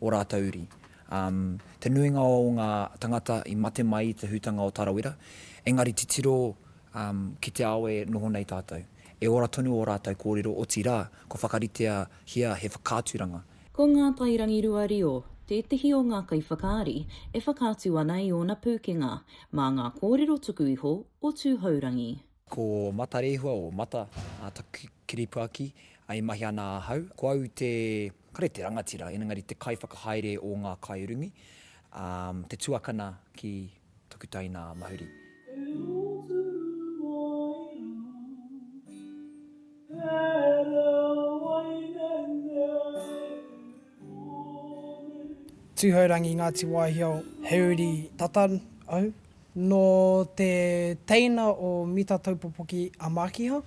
o rātou uri. Te nuinga o ngā tangata i mate mai i te hutanga o Tarawera, engari titiro ki te ao e noho nei tātou. E ora tonu ō rātou kōrero, otirā, kua whakaritea hea he whakaaturanga. Ko Ngā Tai Rangirua Reo tētehi o ngā kaiwhakaari e whakaatu ana i ōna pūkenga mā ngā kōrero tuku iho o Tūhourangi. Ko Matarehua o Mata taku kiripuaki e mahi ana ahau. Ko au te, kare te rangatira, engari te kaiwhakahaere o ngā kaiurungi, te tuakana ki taku taina a Mahuri. Tūhourangi, Ngāti Wāhiao, he uri tata au. Nō te teina o Mita Taupopoki a Mākiha,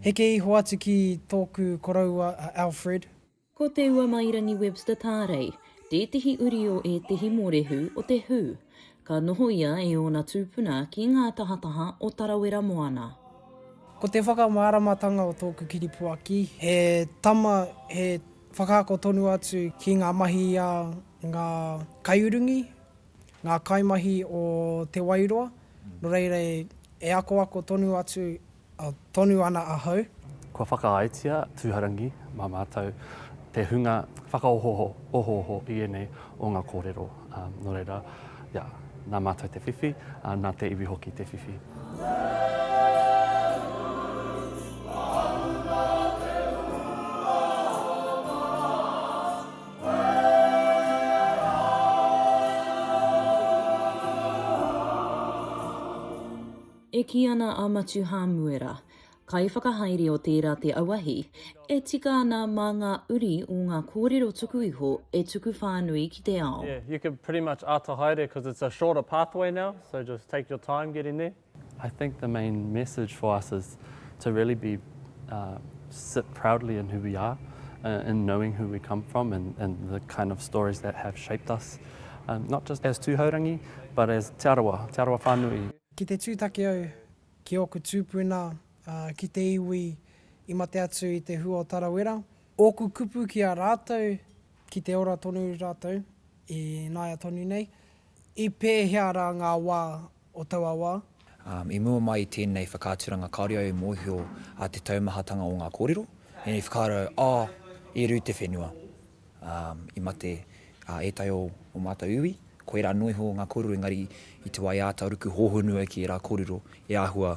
heke iho atu ki tōku koroua a Alfred. Ko Te Uamairangi Webster Tārei tētehi uri o ētehi mōrehu o te who. Ka noho ia e ōna tūpuna ki ngā tahataha o Tarawera moana. Ko te whakamāramatanga o tōku kiripuaki he tama, he whakaako tonu atu ki ngā mahi a ngā kaiurungi, ngā kaimahi o Te Wairoa, nō reira e akoako tonu atu, tonu ana ahau. Kua whakaaetia tūharangi mā mātou te hunga whakaohooho i ēnei o ngā kōrero, nō reira, ia, nā mātou te whiwhi, ā, nā te iwi hoki te whiwhi. E kī ana a Matiu Hāmuera, kaiwhakahaere o tērā te auahi, e tika ana mā ngā uri o ngā kōrero tuku iho e tuku whānui ki te ao. Yeah, you can pretty much ata haere cause it's a shorter pathway now, so just take your time getting there. I think the main message for us is to really be uh, sit proudly in who we are, uh, in knowing who we come from and, and the kind of stories that have shaped us, um, not just as Tūhourangi, but as Te Arawa, Te Arawa whānui. Ki te tūtaki au ki ōku tūpuna, uh, ki te iwi i mate atu i te hua o Tarawera, ōku kupu ki a rātou, ki te ora tonu rātou, i nāia tonu nei, i pēhea rā ngā wā o taua wā. I mua mai i tēnei whakaaturanga kāore au e mōhio a te taumahatanga o ngā kōrero, ēnei whakaaro, oh, i rū te whenua, i mate ētahi o o mātou iwi, koirā noa iho ngā kōrero engari i te wā e āta ruku hōhonu ai ki ērā kōrero e āhua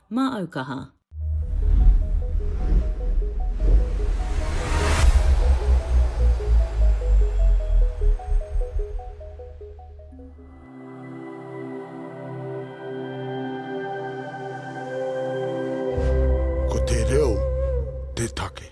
Mā au kaha. Ko te reo te take.